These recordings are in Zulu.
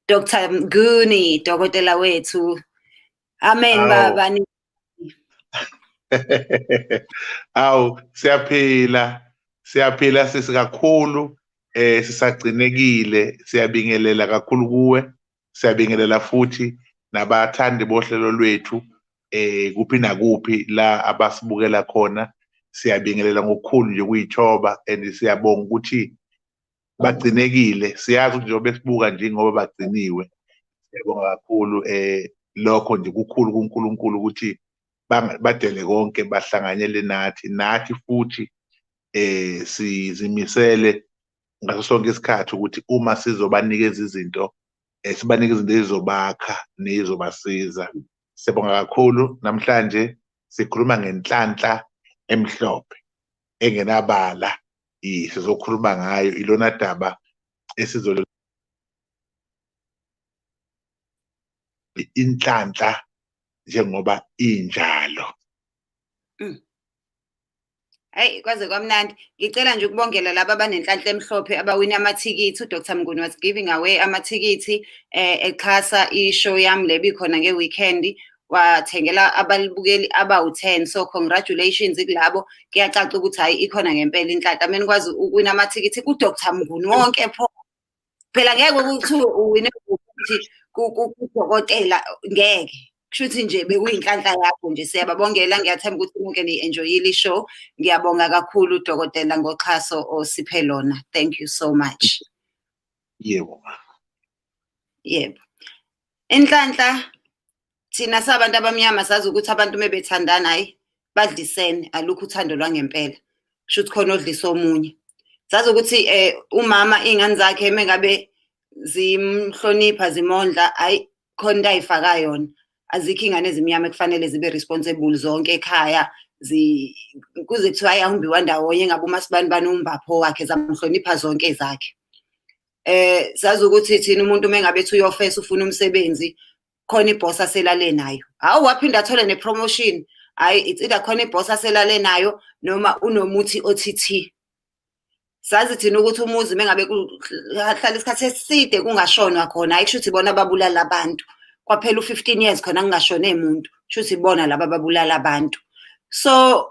Dr. Mguni, dokotela wethu. Amen Awu. baba. ni- Awu siyaphila siyaphila sisi kakhulu eh sisagcinekile siyabingelela kakhulu kuwe siyabingelela futhi nabathandi bohlelo lwethu eh kuphi nakuphi la abasibukela khona siyabingelela ngokukhulu nje kuyithoba and siyabonga ukuthi bagcinekile siyazi ukuthi njengoba besibuka nje ngoba bagciniwe siyabonga kakhulu eh lokho nje kukhulu kuNkulunkulu ukuthi badele konke bahlanganyele nathi nathi futhi eh sizimisele ngaso sonke isikhathi ukuthi uma sizobanikeza izinto eh, sibanike izinto ezizobakha nezobasiza siyabonga kakhulu namhlanje sikhuluma ngenhlanhla emhlophe engenabala sizokhuluma ngayo ilona daba esizol inhlanhla njengoba injalo mm. Hayi kwaze kwamnandi. Ngicela nje ukubongela laba abanenhlanhla emhlophe abawina amathikithi. UDr Mnguni was giving away amathikithi eh exhasa ishow yami lebi khona ngeweekend. wathengela abalibukeli abawu-10 so congratulations kulabo kuyacaca ukuthi hayi ikhona ngempela inhlaka mina kwazi ukwina amathikithi ku-dr mnguni wonke pho phela ngeke ukuthi uwine ukuthi kudokotela ngeke kusho ukuthi nje bekuyinhlanhla yakho nje siyababongela ngiyathemba ukuthi nonke niyi-enjoyile i-show ngiyabonga kakhulu udokotela ngoxhaso osiphe lona thank you so much yebo yebo inhlanhla thina sabantu abamnyama sazi ukuthi abantu uma bethandana hhayi badlisene alukho uthando lwangempela kusho ukuthi khona odlisa omunye sazi ukuthi um umama iy'ngane zakhe uma ngabe zimhlonipha zimondla hhayi khona into ayifaka yona azikho iy'ngane ezimnyama ekufanele zibe responsible zonke ekhaya kuze kuthiwa ayahumbiwa ndawonye ngabe umasibani bani umbapho wakhe zamhlonipha zonke ezakhe eh sazi ukuthi thina umuntu uma engabe ethi uyofesa ufuna umsebenzi khona iboss aselale nayo hawu waphinda athole nepromotion hayi it's either khona iboss aselale nayo noma unomuthi othi sazi thina ukuthi umuzi uma engabe kuhlala isikhathi eside kungashonwa khona hayi kusho ukuthi bona babulala abantu kwaphela u-15 years khona kungashone muntu kusho ukuthi bona laba babulala abantu so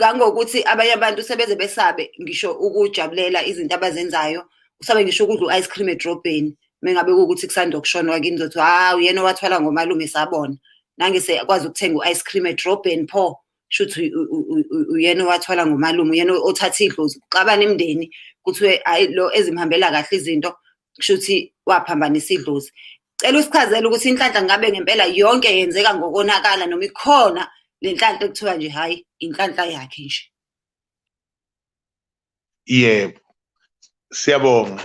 kangokuthi abanye abantu sebeze besabe ngisho ukujabulela izinto abazenzayo usabe ngisho ukudla u-ice cream edrobheni mengabe kuwukuthi kusanda ukushonwa kini zothi hawu yena owathwala ngomalume sabona nange sekwazi ukuthenga u-ice cream edrobheni pho shuthi uyena owathwala ngomalume uyena othatha idlozi kuxabana imndeni kuthiwe hayi lo ezimhambela kahle izinto kusho ukuthi waphambanisa idlozi cela usichazele ukuthi inhlanhla ngabe ngempela yonke yenzeka ngokonakala noma ikhona le nhlanhla ekuthiwa nje hhayi inhlanhla yakhe nje yebo siyabonga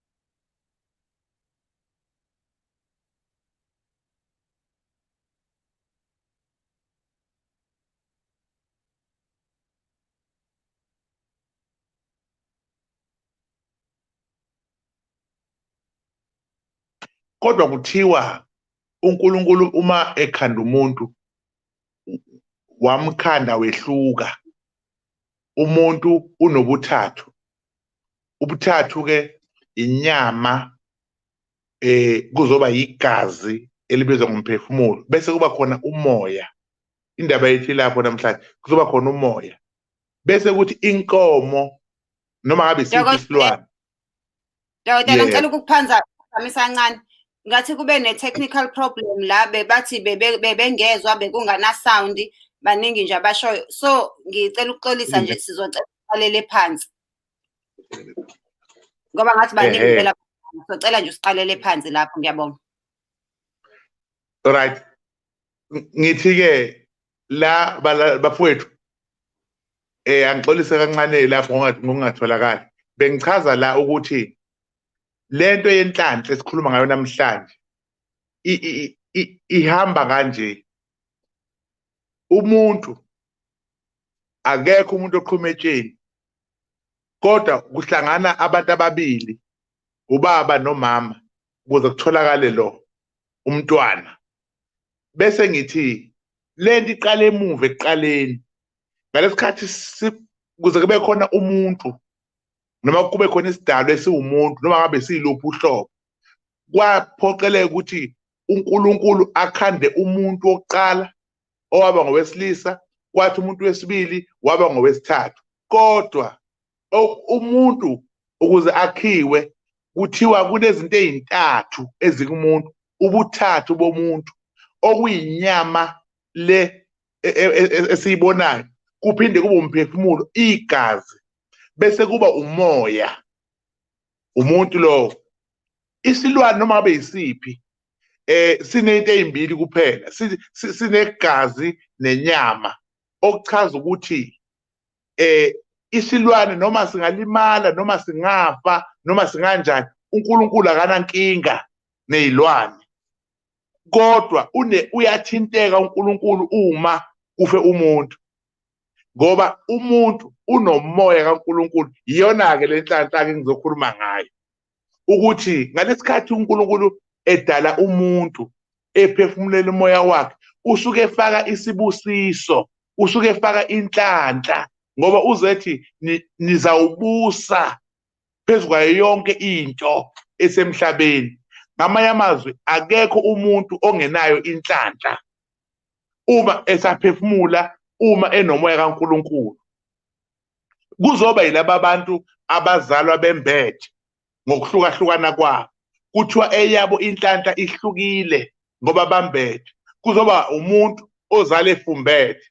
kodwa kuthiwa uNkulunkulu uma ekhanda umuntu wamkhanda wehluka umuntu unobuthathu ubuthathu ke inyama eh kuzoba yigazi elibizwa ngomphefumulo bese kuba khona umoya indaba yethu ilapho namhlanje kuzoba khona umoya bese kuthi inkomo noma ngabe isilwane Yawudala Yeah. ngicela ukukuphanza phamisa kancane. Ngathi kube ne technical problem la bebathi bebe- bebengezwa bekungana sound baningi nje abashoyo. So ngicela ukuxolisa nje sizocela uqalele phansi. Ngoba ngathi baningi Ehhe. phela socela nje usiqalele phansi lapho ngiyabonga. Right. ngithi ke la bafowethu eh angixolise kancane lapho ngongatholakala bengichaza la ukuthi lento yenhlanhla esikhuluma ngayo namhlanje ihamba kanje umuntu akekho umuntu oqhuma etsheni kodwa kuhlangana abantu ababili ubaba nomama ukuze kutholakale lo umntwana bese ngithi lento iqala emuva ekuqaleni ngalesikhathi kuze kube khona umuntu noma kube khona isidalwa esiwumuntu noma ngabe siluphi uhlobo kwaphoqeleka ukuthi uNkulunkulu akhande umuntu wokuqala owaba ngowesilisa kwathi umuntu wesibili waba ngowesithathu kodwa umuntu ukuze akhiwe kuthiwa kunezinto ezintathu ezikumuntu ubuthathu bomuntu okuyinyama le e, e, e, esiyibonayo kuphinde kube umphefumulo igazi bese kuba umoya umuntu lowo isilwane noma ngabe yisiphi eh sinento ezimbili kuphela sinegazi nenyama okuchaza ukuthi eh isilwane noma singalimala noma singafa noma singanjani uNkulunkulu akanankinga nezilwane kodwa une uyathinteka uNkulunkulu uma kufe umuntu ngoba umuntu unomoya kaNkulunkulu iyona ke lenhlanhla ke ngizokhuluma ngayo ukuthi ngalesikhathi uNkulunkulu edala umuntu ephefumulela umoya wakhe usuke efaka isibusiso usuke efaka inhlanhla ngoba uzethi nizawubusa phezu kwayo yonke into esemhlabeni ngamanye amazwi akekho umuntu ongenayo inhlanhla uma esaphefumula uma enomoya kaNkuluNkulu kuzoba yilaba bantu abazalwa bembethe ngokuhlukahlukana kwabo kuthiwa eyabo inhlanhla ihlukile ngoba bambethe kuzoba umuntu ozale efumbethe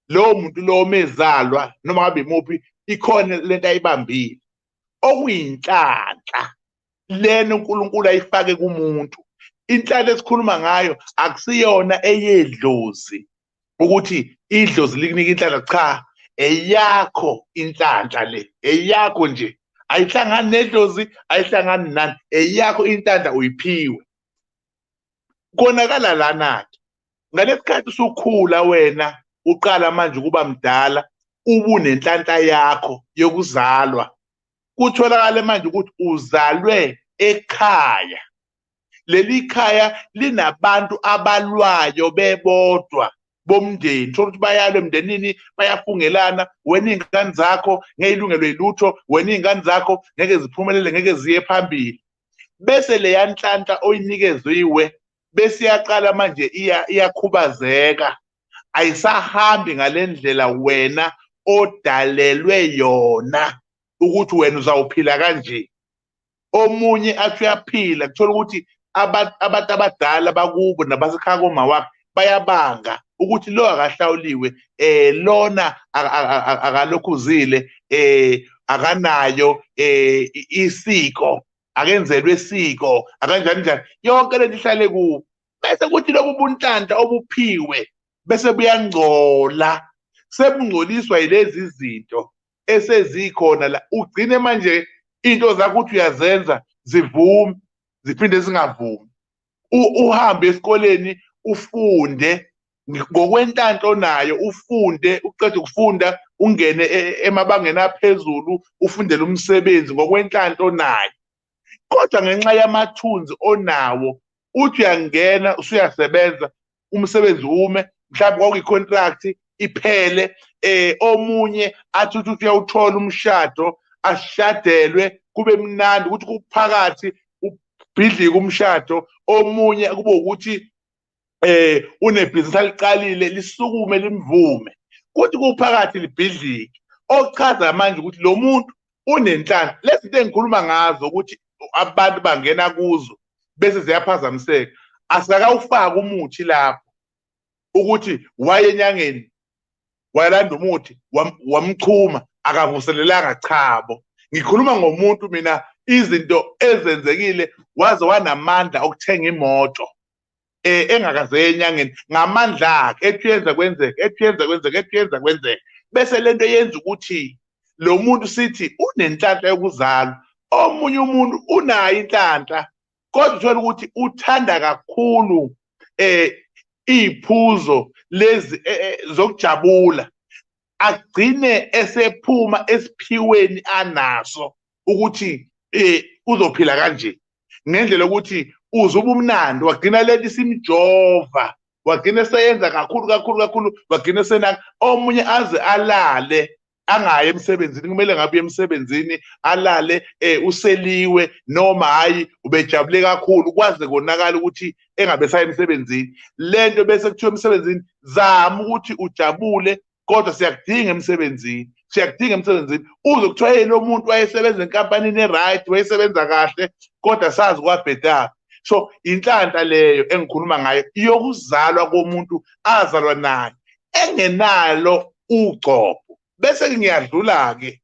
lowo muntu lowo mezalwa noma ngabe imuphi ikhona lento ayibambile okuyinhlanhla lena uNkulunkulu ayifake kumuntu inhlanhla esikhuluma ngayo akusiyona eyedlozi ukuthi idlozi likunika inhlanhla cha eyakho inhlanhla le eyakho nje ayihlangani nedlozi ayihlangani nani eyakho inhlanhla uyiphiwe konakala lana-ke ngalesikhathi usukhula wena uqala manje ukuba mdala ubunenhlanhla yakho yokuzalwa kutholakale manje ukuthi uzalwe ekhaya leli khaya linabantu abalwayo bebodwa bomndeni thola ukuthi bayalwe emndenini bayafungelana wena iy'ngane zakho ngeke ilungelwe yilutho wena iy'ngane zakho ngeke ziphumelele ngeke ziye phambili bese leya nhlanhla oyinikeziwe bese iyaqala manje iyakhubazeka ayisahambi ngale ndlela wena odalelwe yona ukuthi wena uzawuphila kanje omunye athi uyaphila kuthola ukuthi abantu abadala bakubo nabasekhaya koma wakhe bayabanga ukuthi lo akahlawuliwe eh lona akalokhuzile eh akanayo eh isiko akenzelwe isiko akanjani njani yonke lento ihlale ku bese kuthi lobu buntlanta obuphiwe bese buyangcola sebungcoliswa yilezi zinto esezikhona la ugcine manje into zakho uthi uyazenza zivume ziphinde zingavumi uhambe esikoleni ufunde ngokwentanto nayo ufunde uqeda ukufunda ungene e, e, emabangeni aphezulu ufundele umsebenzi ngokwentanto nayo kodwa ngenxa yamathunzi onawo uthi uyangena usuyasebenza umsebenzi ume mhlawumbe kwakuyi-contract iphele eh omunye athi uthi uyawuthola umshado ashadelwe kube mnandi ukuthi kuphakathi ubhidlika umshado omunye kube ukuthi eh unebhizinisi aliqalile lisukume limvume kuthi kuphakathi libhidlike ochaza manje ukuthi lo muntu unenhlamba lezi zinto engikhuluma ngazo ukuthi abantu bangena kuzo bese ziyaphazamiseka asikakawufaki umuthi lapho ukuthi waye enyangeni wayelanda umuthi wamchuma akavuselelanga chabo ngikhuluma ngomuntu mina izinto ezenzekile waze wanamandla okuthenga imoto eh engakaze enyangeni ngamandla akhe ethi yenza kwenzeke ethi yenza kwenzeke ethi yenza kwenzeke bese lento yenza ukuthi lo muntu sithi unenhlanhla yokuzalwa omunye umuntu unayo inhlanhla kodwa uthola ukuthi uthanda kakhulu eh iphuzo lezi eh, eh, zokujabula agcine esephuma esiphiweni anaso ukuthi eh uzophila kanje ngendlela ukuthi uze ubumnandi wagcina leli simjova wagcina eseyenza kakhulu kakhulu kakhulu wagcina esenaka omunye aze alale angayi emsebenzini kumele ngabe uye emsebenzini alale eh useliwe noma hayi ubejabule kakhulu kwaze konakala ukuthi engabe esaye emsebenzini le nto bese kuthiwa emsebenzini zama ukuthi ujabule kodwa siyakudinga emsebenzini siyakudinga emsebenzini uze kuthiwa yena lo muntu wayesebenza enkampanini e-right wayesebenza kahle kodwa sazi kwabhedaphi so inhlanhla leyo engikhuluma ngayo iyokuzalwa komuntu azalwa nayo engenalo ugcobho bese ngiyadlula-ke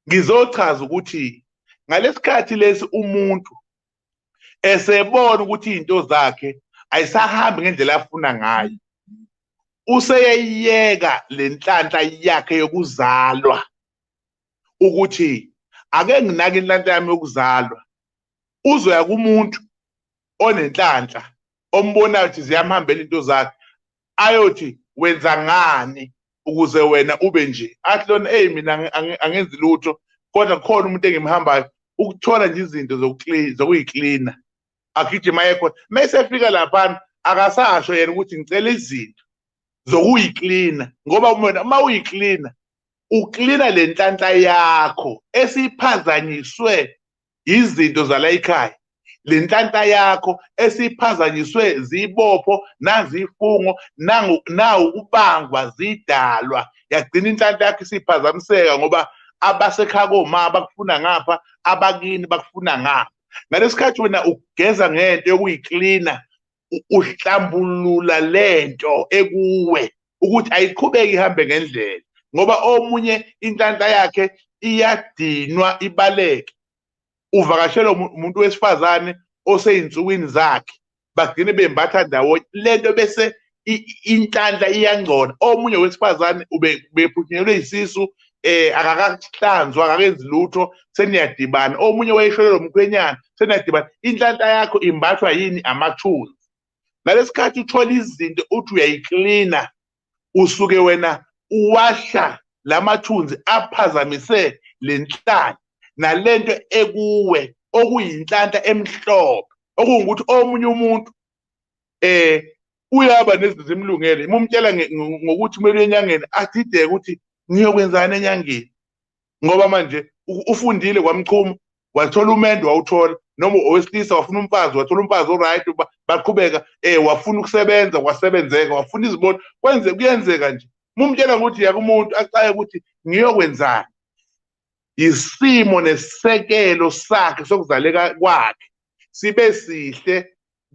ngizochaza ukuthi ngalesikhathi lesi umuntu esebona ukuthi izinto zakhe ayisahambi ngendlela afuna ngayo useyeyeka lenhlanhla yakhe yokuzalwa ukuthi ake nginake inhlanhla yami yokuzalwa uzoya kumuntu onenhlanhla ombonayo ukuthi ziyamhambela into zakhe ayothi wenza ngani ukuze wena ube nje athi lona eyi mina angenzi lutho kodwa kukhona umuntu engimhambayo ukuthola nje izinto zokuyiklina agijima ekhona mesefika laphana akasasho yena ukuthi ngicela izinto zokuyiklina ngoba wena uma uyiklina uklina le nhlanhla yakho esiphazanyiswe yizinto zalayikhaya lenhlanhla yakho esiphazanyiswe zibopho nazifungo nangu nawu kubangwa zidalwa yagcina inhlanhla yakho isiphazamiseka ngoba abasekhaya koma bakufuna ngapha abakini bakufuna ngapha ngalesikhathi wena ugeza ngento yokuyiklina uhlambulula lento ekuwe ukuthi ayiqhubeki ihambe ngendlela ngoba omunye inhlanhla yakhe iyadinwa ibaleke uvakashelwa umuntu wesifazane oseyinsukwini zakhe bagcine bembatha ndawonye lento bese inhlanhla iyangcola omunye wesifazane ubephuthunyelwe isisu eh akakahlanzwa akakenzi lutho seniyadibana omunye wayesholo lomkhwenyana seniyadibana inhlanhla yakho imbathwa yini amathuna ngalesikhathi uthola izinto uthi uyayiklina usuke wena uwasha lamathunzi aphazamise lenhlanhla nalento ekuwe okuyinhlanhla emhlophe okungukuthi omunye umuntu eh uyaba nezinto zimlungele uma umtshela ngokuthi kumele enyangeni adideke ukuthi ngiyokwenzani enyangeni ngoba manje ufundile kwamchuma wathola umendo wawuthola noma owesilisa wafuna umfazi wathola umfazi oright baqhubeka eh wafuna ukusebenza kwasebenzeka wafuna izimoto kwenze kuyenzeka nje mumtshela ukuthi yakumuntu acaye ukuthi ngiyokwenzani isimo nesisekelo sakhe sokuzaleka kwakhe sibe sihle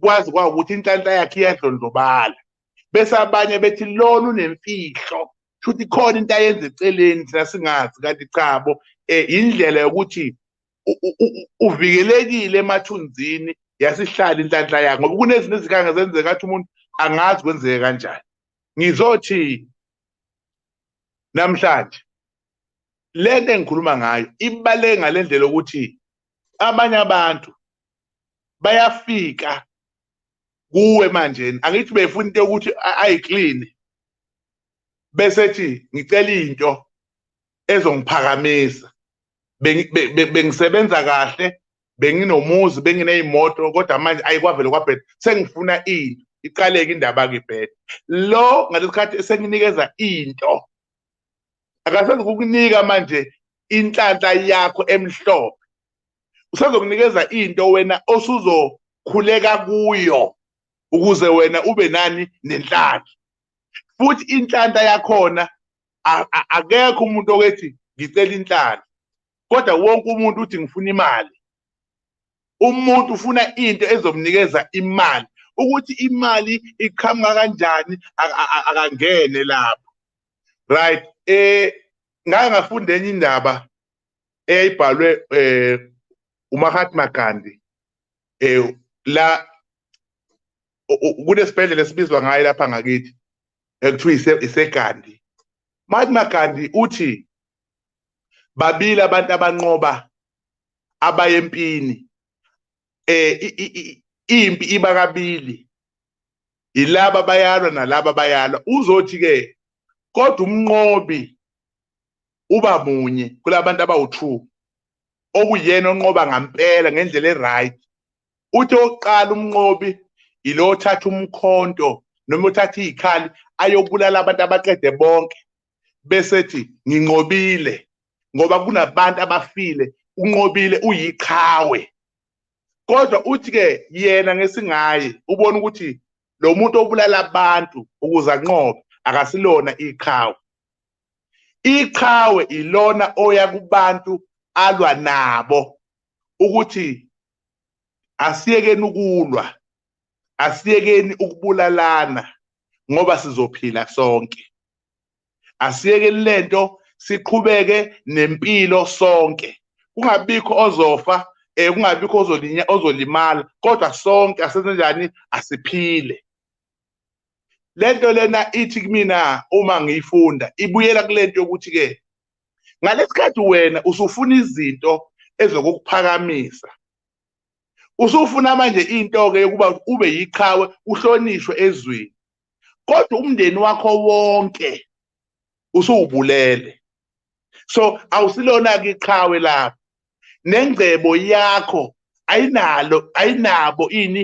kwazi kwawukuthi inhlanhla yakhe iyadlondlobala bese abanye bethi lona unemfihlo futhi khona into ayenza eceleni thina singazi kanti cha bo eh, indlela yokuthi uvikelekile emathunzini yasihlala inhlanhla yakhe ngoba kunezinto ezikhanga zenzeka athi umuntu angazi kwenzeke kanjani ngizothi namhlanje lento engikhuluma ngayo ibaleke ngalendlela ukuthi abanye abantu bayafika kuwe manje angithi befuna into yokuthi ayi clean bese thi ngicela into ezongiphakamisa bengisebenza kahle benginomuzi bengineyimoto kodwa manje ayikwavele kwabheda sengifuna into iqaleke indaba ke bheda lo ngalesikhathi esenginikeza into akasazi kukunika manje inhlanhla yakho emhlophe usazokunikeza into wena osuzokhuleka kuyo ukuze wena ube nani nenhlanhla futhi inhlanhla yakhona akekho umuntu okethi ngicela inhlanhla kodwa wonke umuntu uthi ngifuna imali umuntu ufuna into ezomnikeza imali ukuthi imali iqhamuka kanjani akangene lapho right eh ngake ngafunda enye indaba eyayibhalwe eh uMahatma Gandhi eh la kunesibhedlela esibizwa ngayo lapha ngakithi ekuthiwa iseGandhi Mahatma Gandhi uthi babili abantu abanqoba abayempini eh impi iba kabili yilaba bayalwa nalaba bayalwa uzothi ke kodwa umnqobi uba munye kulabantu abawu-two okuyena onqoba ngampela ngendlela e-right uthi oqala umnqobi yilo othatha umkhonto noma uthatha iy'khali ayokubulala abantu abaqede bonke besethi nginqobile ngoba kunabantu abafile unqobile uyiqhawe kodwa uthi ke yena ngesingaye ubona ukuthi lo muntu obulala abantu ukuze anqobe akasilona iqhawe iqhawe ilona oya kubantu alwa nabo ukuthi asiyekeni ukulwa asiyekeni ukubulalana ngoba sizophila sonke asiyeke lento siqhubeke nempilo sonke kungabikho ozofa eh kungabikho ozolinya ozolimala kodwa sonke asenze njani asiphile lento lena ithi kumina uma ngiyifunda ibuyela kulento yokuthi ke ngalesikhathi wena usufuna izinto ezokukuphakamisa usufuna manje into ke yokuba ube yiqhawe uhlonishwe ezweni kodwa umndeni wakho wonke usuwubulele so awusilona ke iqhawe lapho nengcebo yakho ayinalo ayinabo ini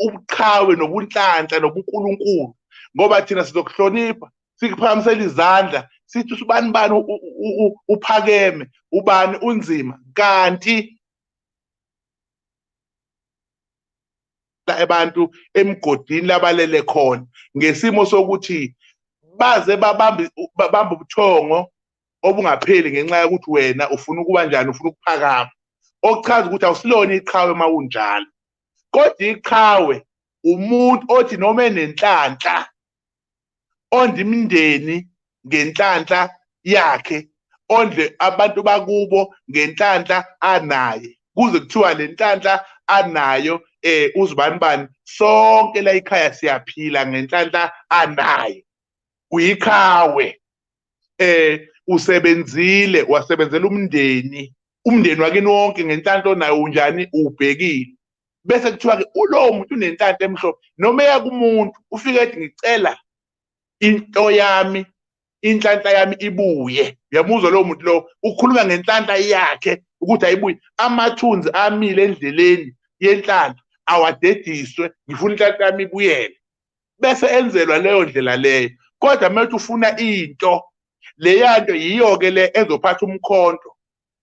ubuqhawe nobunhlanhla nobunkulunkulu ngoba thina sizokuhlonipha sikuphakamisela izandla sithi usubani bani uphakeme ubani unzima kanti abantu emgodini labalele khona ngesimo sokuthi baze babambe babambe ubuthongo obungapheli ngenxa yokuthi wena ufuna ukuba njani ufuna ukuphakama okuchaza ukuthi awusilona iqhawe uma unjalo kodwa iqhawe umuntu othi noma enenhlanhla ondle imindeni ngenhlanhla yakhe ondle abantu bakubo ngenhlanhla anaye kuze kuthiwa le nhlanhla anayo eh uzibani bani sonke la ikhaya siyaphila ngenhlanhla anayo uyiqhawe eh usebenzile wasebenzela umndeni umndeni wakini wonke ngenhlanhla onayo unjani ubhekile bese kuthiwa-ke ulowo muntu unenhlanhla emhlophe noma eya kumuntu ufike ethi ngicela into yami inhlanhla yami ibuye uyamuzwa lowo muntu lowo ukhuluma ngenhlanhla yakhe ukuthi ayibuye amathunzi amile endleleni yenhlanhla awadediswe ngifuna inhlanhla yami ibuyele bese enzelwa leyo ndlela leyo kodwa uma uthi ufuna into leyanto yiyo-ke le ezophatha umkhonto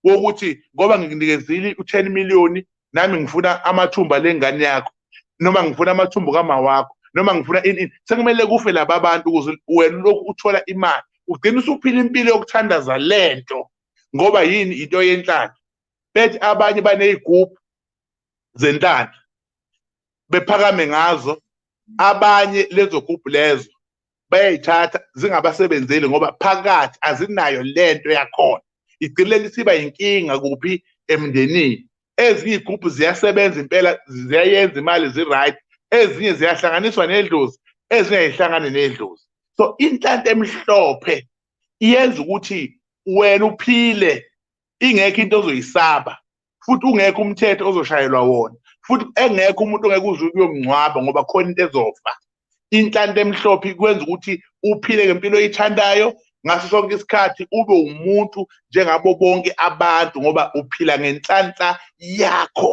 wokuthi ngoba ngikunikezile u-10 million nami ngifuna amathumba lengane yakho noma ngifuna amathumbu kamawakho noma ngifuna ini ini sekumele kufe laba bantu ukuze wena lokhu uthola imali ugcina usuphila impilo yokuthandaza lento ngoba yini into yenhlalo bethi abanye banezigubhu zentanda bephakame ngazo abanye lezo gubhu lezo bayayithatha zingabasebenzeli ngoba phakathi azinayo lento yakhona igcine lisiba inkinga kuphi emndenini ezinye igroup ziyasebenza impela ziyayenza imali ziright ezinye ziyahlanganiswa nedlozi ezinye ayihlangane nedlozi so inhlanhla emhlophe iyenza ukuthi wena uphile ingekho into ozoyisaba futhi ungekho umthetho ozoshayelwa wona futhi engekho umuntu ongeke uze uyomngcwaba ngoba khona into ezofa inhlanti emhlophe ikwenza ukuthi uphile ngempilo oyithandayo ngaso sonke isikhathi ube umuntu njengabo bonke abantu ngoba uphila ngenhlanhla yakho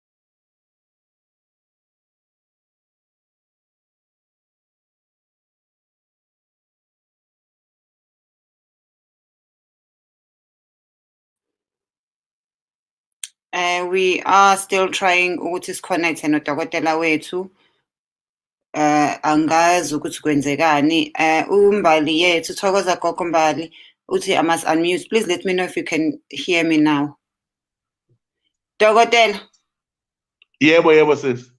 Uh, we are still trying ukuthi siconnecte nodokotela wethu eh angazi ukuthi kwenzekani eh umbali yethu thokoza gogo mbali uthi i must unmute please let me know if you can hear me now dokotela yebo yebo sisi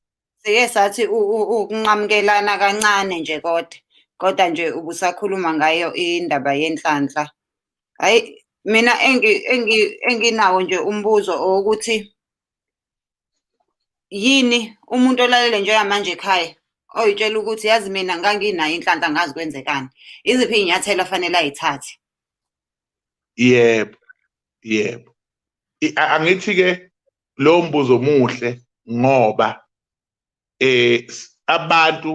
sike sathi ukunqamukelana kancane nje kodwa kodwa nje ubusakhuluma ngayo indaba yenhlanhla hayi mina enginawo nje umbuzo owokuthi yini umuntu olalele njengamanje ekhaya oyitshela ukuthi yazi mina nganginayo inhlanhla ngazi kwenzekani iziphi iy'nyathelo afanele ayithathe yebo yebo angithi-ke lowo mbuzo omuhle ngoba eh abantu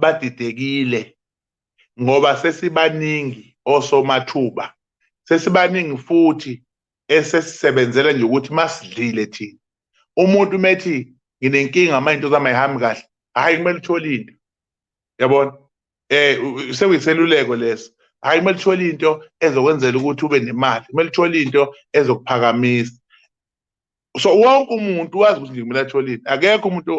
badidekile ngoba sesibaningi osomathuba sesibaningi futhi esesisebenzela nje ukuthi masidlile thina umuntu methi nginenkinga manje into zami ayihambi kahle hayi kumele uthole into yabona eh sekuyiseluleko leso hayi kumele uthole into ezokwenzela ukuthi ube nemali kumele uthole into ezokuphakamisa so wonke umuntu wazi ukuthi ngikumele athole into akekho umuntu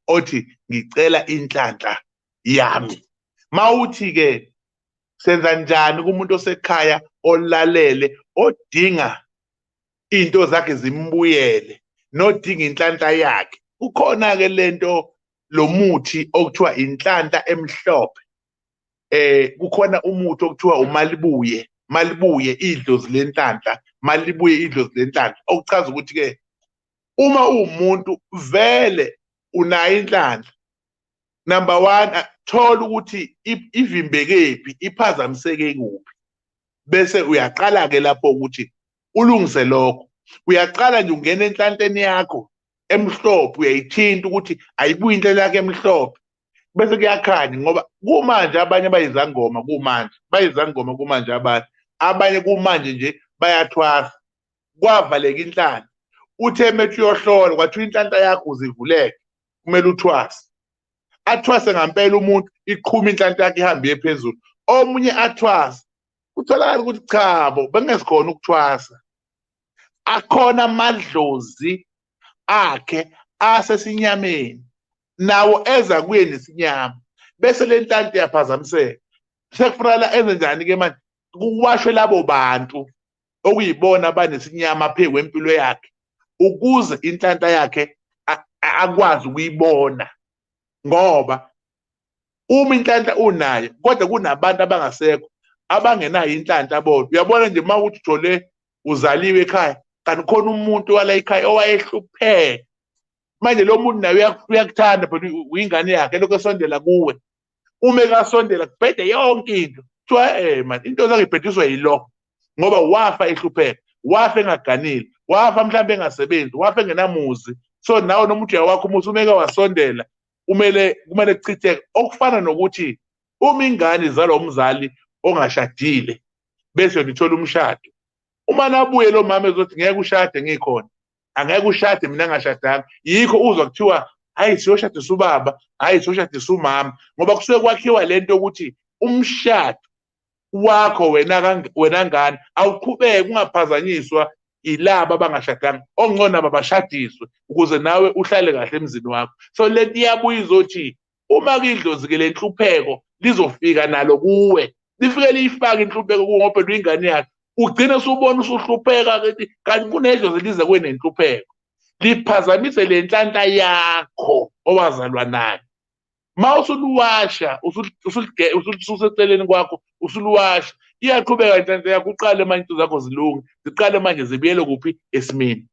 othi ngicela inhlanhla yami mawuthi ke senza njani kumuntu osekhaya olalele odinga into zakhe zimbuyele nodinga inhlanhla yakhe kukhona ke lento lomuthi okuthiwa inhlanhla emhlophe eh kukhona umuthi okuthiwa umalibuye malibuye idlozi lenhlanhla malibuye idlozi lenhlanhla okuchaza ukuthi ke uma uwumuntu vele unayo inhlanhla number one thola ukuthi ivimbekephi iphazamiseke kuphi bese uyaqala ke lapho ukuthi ulungise lokho uyaqala nje ungena enhlanhleni yakho emhlophe uyayithinta ukuthi ayibuyi inhlela yakhe emhlophe bese kuyakhanya ngoba kumanje abanye bayizangoma kumanje bayizangoma kumanje abanye abanye kumanje nje bayathwasa kwavaleka inhlana uthe methi uyohlola kwathiwa inhlanhla yakho uzivuleke kumele uthwase athwase ngampela umuntu iqhuma inhlanhla yakhe ihambe iye phezulu omunye athwase kutholakala ukuthi cha bo bengezikhona ukuthwasa akhona amadlozi akhe asesinyameni nawo eza kuye nesinyama bese le nhlanhla iyaphazamiseka sekufunakala enze njani-ke manje kuwashwe labo bantu okuyibona abanesinyama phe kwempilo yakhe ukuze inhlanhla yakhe akwazi ukuyibona ngoba uma inhlanhla unayo kodwa kunabantu abangasekho abangenayo inhlanhla bona uyabona nje uma uthi uthole uzaliwe ekhaya kanti khona umuntu wala ekhaya owayehlupheka manje lo muntu naye uyakuthanda but uyingane yakhe lokho esondela kuwe uma ekasondela kubhede yonke into kuthiwa eh man into zangibhediswa yilokho ngoba wafa ehlupheka wafa engaganile wafa mhlawumbe engasebenzi wafa engenamuzi so nawe noma uthi wakho umuzi umeke wasondela kumele kumele kuchitheke okufana nokuthi uma ingane izalwa umzali ongashadile bese yona ithola umshado uma nabuye lo mama ezothi ngeke ushade ngikhona angeke ushade mina ngashadanga yikho uzwa kuthiwa hayi siyoshadisa ubaba hayi siyoshadisa umama ngoba kusuke kwakhiwa le nto ukuthi umshado wakho wena wena ngane awuqhubeke ungaphazanyiswa ilaba abangashadanga ongcono abashadiswe ukuze nawe uhlale kahle emzini wakho so lento iyabuya izothi uma kidlozi ke lenhlupheko lizofika nalo kuwe lifike liyifake inhlupheko kuwe ngoba luyingane yakhe ugcine usubona usuhlupheka ukuthi kanti kunedlozi lize kwenenhlupheko liphazamise le nhlanhla yakho owazalwa nayo ma usuluwasha ususeceleni kwakho usuluwasha iyaqhubeka inhlanhla yakho uqale manje into zakho zilunge ziqale manje zibuyele kuphi esimeni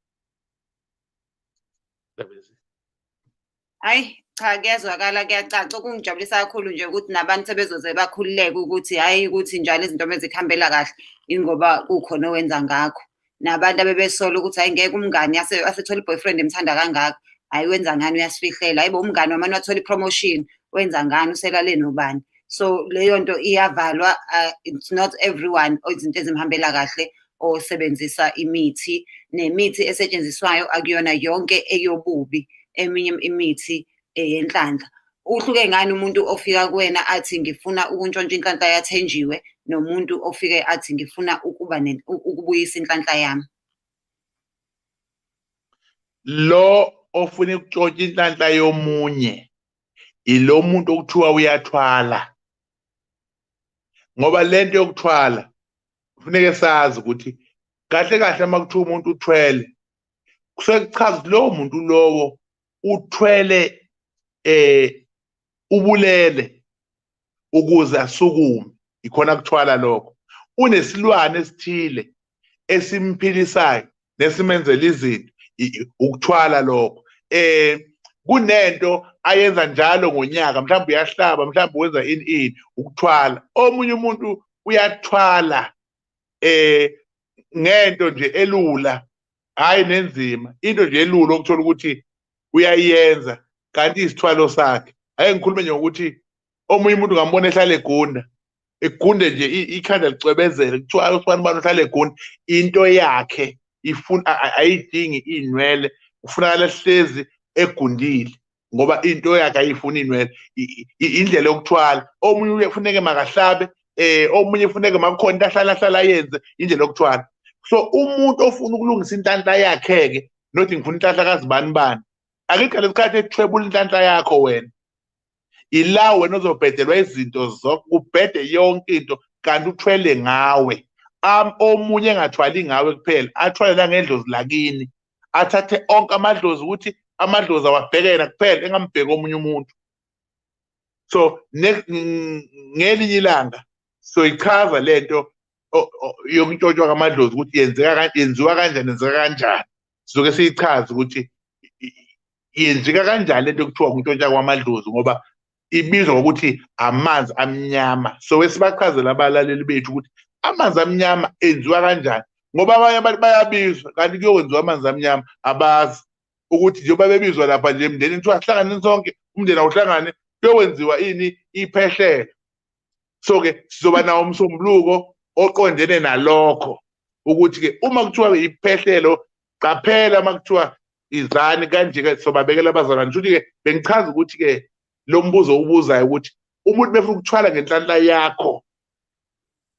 hayi cha kuyazwakala kuyacaca okungijabulisa kakhulu nje ukuthi nabantu sebezoze bakhululeke ukuthi hhayi ukuthi njalo izinto mezikuhambela kahle ingoba kukhona owenza ngakho nabantu abebesola ukuthi hhayi ngeke umngani asethola i-boyfriend emthanda kangaka hhayi wenza ngani uyasifihlela hhayi bo umngani wamane wathole i-promotion wenza ngani uselale nobani so leyo nto iyavalwa uh, it's not everyone izinto ezimhambela kahle osebenzisa imithi nemithi esetshenziswayo akuyona yonke eyobubi eminye imithi eyenhlanhla uhluke ngani umuntu ofika kuwena athi ngifuna ukuntshontsha inhlanhla yathenjiwe nomuntu ofike athi ngifuna ukuba ukubuyisa inhlanhla yami lo ofuna ukuntshontsha inhlanhla yomunye ilo muntu okuthiwa uyathwala ngoba lento yokuthwala kufuneke sazi ukuthi kahle kahle uma kuthiwa umuntu uthwele kusuke kuchaza ukuthi lowo muntu lowo uthwele eh ubulele ukuze asukume ikhona kuthwala lokho unesilwane esithile esimphilisayo nesimenzela izinto ukuthwala lokho eh kunento ayenza njalo ngonyaka mhlawumbe uyahlaba mhlawumbe wenza ini ini ukuthwala omunye umuntu uyathwala eh ngento nje elula hayi nenzima into nje elula okuthola ukuthi uyayenza kanti isithwalo sakhe ake ngikhulume nje ngokuthi omunye umuntu ngambona ehlala egunda egunde nje ikhanda licwebezele kuthiwa usibani bani uhlala egunda into yakhe ifuna ayidingi iy'nwele kufunakala hlezi egundile ngoba into yakhe ayifuni inwele indlela yokuthwala omunye uyefuneke makahlabe eh omunye ufuneke makukhona into ahlala ahlala yenze indlela yokuthwala so umuntu ofuna ukulungisa inhlanhla yakhe ke nothi ngifuna inhlanhla kazibani bani akekho lesikhathi ethwebula inhlanhla yakho wena ila wena ozobhedelwa izinto zonke ubhede yonke into kanti uthwele ngawe am omunye engathwali ngawe kuphela athwale nangendlozi lakini athathe onke amadlozi ukuthi amadlozi awabheke yena kuphela engambheki omunye umuntu so ngelinye ilanga soyichaza lento yokuntshontshwa kwamadlozi ukuthi yenzeka yenziwa kanjani yenzeka kanjani sizoke siyichaze ukuthi yenzeka kanjani lento kuthiwa kuntshotsha kwamadlozi ngoba ibizwa ngokuthi amanzi amnyama so esibachazela abalaleli bethu ukuthi amanzi amnyama enziwa kanjani ngoba abanye abantu bayabizwa kanti kuyokwenziwa amanzi amnyama abazi ukuthi njengoba bebizwa lapha nje emndenini kuthiwa sihlangane sonke umndeni awuhlangane kuyokwenziwa ini iphehlelo so ke sizoba nawo umsombuluko oqondene nalokho ukuthi ke uma kuthiwa iphehlelo qaphela uma kuthiwa izani kanje ke sobabekela abazalwane ngisho ukuthi ke bengichaza ukuthi ke lo mbuzo ubuzayo ukuthi umuntu befuna ukuthwala ngenhlanhla yakho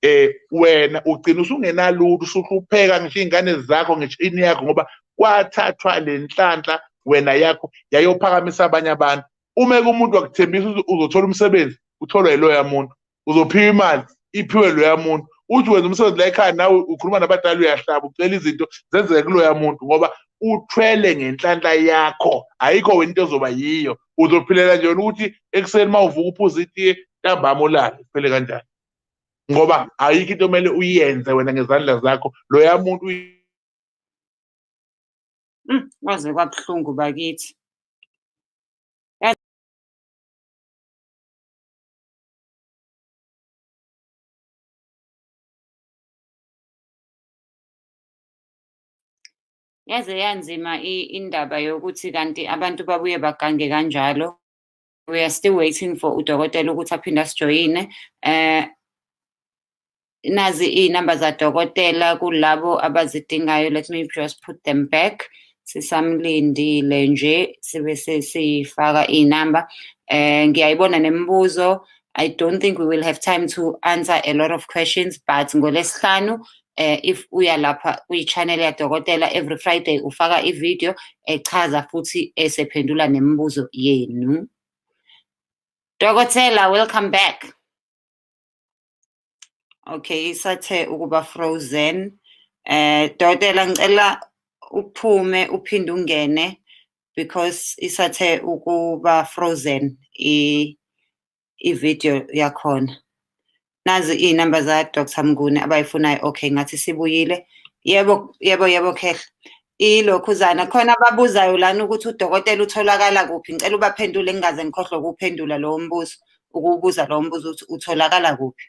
eh wena ugcina usungenalutho usuhlupheka ngisho izingane zakho ngisho ini yakho ngoba kwathathwa lenhlanhla wena yakho yayophakamisa abanye abantu uma ke umuntu wakuthembisa ukuthi uzothola umsebenzi utholwa yiloya muntu uzophiwa imali iphiwe loya muntu uthi wenza umsebenzi la ekhaya nawe ukhuluma nabadala uyahlaba ucela izinto zenzeke kuloya muntu ngoba uthwele ngenhlanhla yakho ayikho wena into ezoba yiyo uzophilela nje wena ukuthi ekuseni uma uvuka uphuza itiye ntambama ulale kuphele kanjani ngoba ayikho into omele uyenze wena ngezandla zakho loya muntu Mm, kwaze kwabuhlungu bakithi. Yaze yanzima indaba yokuthi kanti abantu babuye bagange kanjalo. we are still waiting for udokotela ukuthi aphinde asijoyine eh nazi iy'namba zadokotela kulabo abazidingayo let me just put them back sisamlindile nje sibe sesiyifaka iy'namba eh ngiyayibona nemibuzo I don't think we will have time to answer a lot of questions but ngolesihlanu eh if uya lapha kwi-channel yadokotela every friday ufaka i-video echaza futhi esephendula nemibuzo yenu dokotela welcome back okay isathe ukuba frozen eh dokotela ngicela uphume uphinde ungene because isathe ukuba frozen i ivideo yakhona nazi iy'namba za dr mnguni abayifunayo okay ngathi sibuyile yebo yebo yebo khehla ilokhuzana khona ababuzayo lana ukuthi udokotela utholakala kuphi ngicela ubaphendule ngingaze ngikhohlwe ukuphendula lowo mbuzo ukuwubuza lowo mbuzo ukuthi utholakala kuphi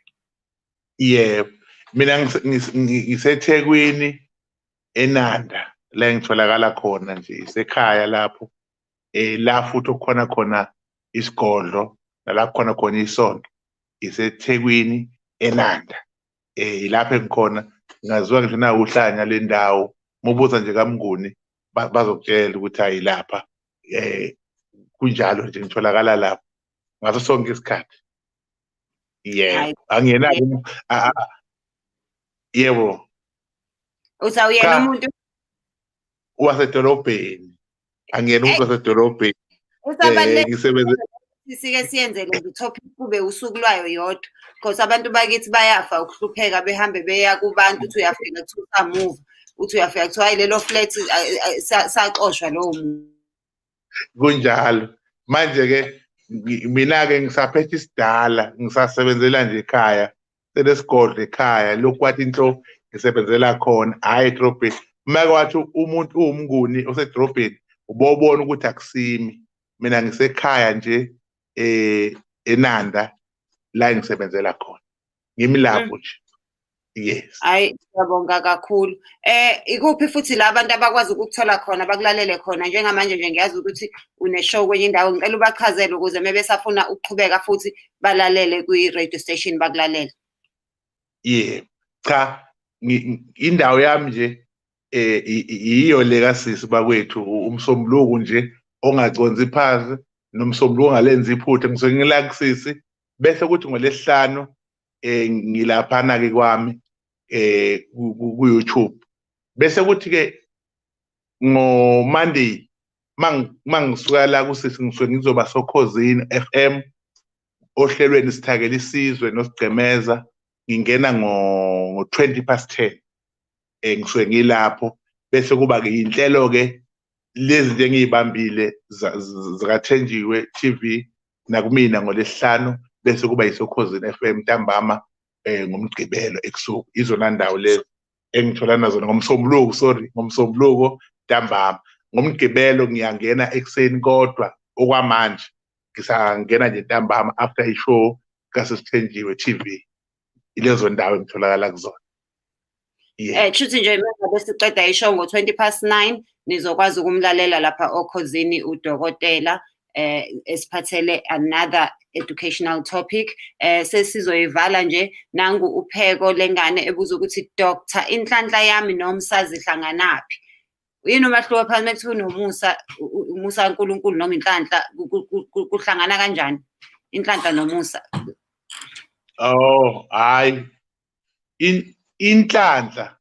yebo mina ngisethekwini enanda la ngitholakala khona nje isekhaya lapho eh la futhi okukhona khona isigodlo nala kukhona khona isonto isethekwini enanda eh ilapho engikhona ngaziwa ngisho na uhlanya lendawo mubuza nje kamnguni bazokutshela ukuthi ayilapha eh kunjalo nje ngitholakala lapho ngaso sonke isikhathi yebo angiyena yebo usawuyena umuntu wasedolobheni angiyena umuntu wasedolobheni eh, ngisebenze sike siyenze le topic kube usuku lwayo yodwa because abantu bakithi bayafa ukuhlupheka behambe beya kubantu uthi uyafika kuthiwa usamuva uthi uyafika kuthiwa hayi lelo flat saxoshwa lowo muntu kunjalo manje-ke mina-ke ngisaphethe isidala ngisasebenzela nje ekhaya selesigodla ekhaya lokhu wathi inhlo ngisebenzela khona hhayi edrobheni umake wathi umuntu uwumnguni osedrobheni ubobona ukuthi akusimi mina ngisekhaya nje eh enanda la ngisebenzela khona ngimi lapho nje yes hayi siyabonga kakhulu eh ikuphi futhi la abantu abakwazi ukuthola khona bakulalele khona njengamanje nje ngiyazi ukuthi uneshow kwenye indawo ngicela ubachazele ukuze mebesafuna ukuqhubeka futhi balalele kwi-radio station bakulalela yebo cha indawo yami nje eh yiyo le kasisi bakwethu umsombuluko nje ongaconzi phansi nomsombuluko ongalenzi iphutha ngisuke ngila kusisi bese kuthi ngolesihlanu eh ngilaphana ke kwami eh ku-YouTube bese kuthi ke ngomonday mangisuka la kusisi ngisuke ngizoba sokhozini FM ohlelweni sithakela isizwe nosigcemeza ngingena ngo 20 past 10 eh ngisuke ngilapho bese kuba ke inhlelo ke lezi nje ngiyibambile zikathenjiwe TV nakumina ngolesihlanu bese kuba yisokhozini FM ntambama eh ngomgqibelo ebusuku izona ndawo lezi engithola nazo ngomsombuluko sorry ngomsombuluko ntambama ngomgqibelo ngiyangena ekuseni kodwa okwamanje ngisangena nje ntambama after ishow kasesithenjiwe TV ilezo ndawo engitholakala kuzona yeah. eh shuthi nje mangabe siqeda ishow ngo 20 past 9 nizokwazi ukumlalela lapha okhozini udokotela eh esiphathele another educational topic eh sesizoyivala nje nangu upheko lengane ebuza ukuthi doctor inhlanhla yami nomsazi hlanganaphi yini umahluko phakathi mekuthiwa unomusa umusa kaNkuluNkulu noma inhlanhla kuhlangana kanjani inhlanhla nomusa oh hayi inhlanhla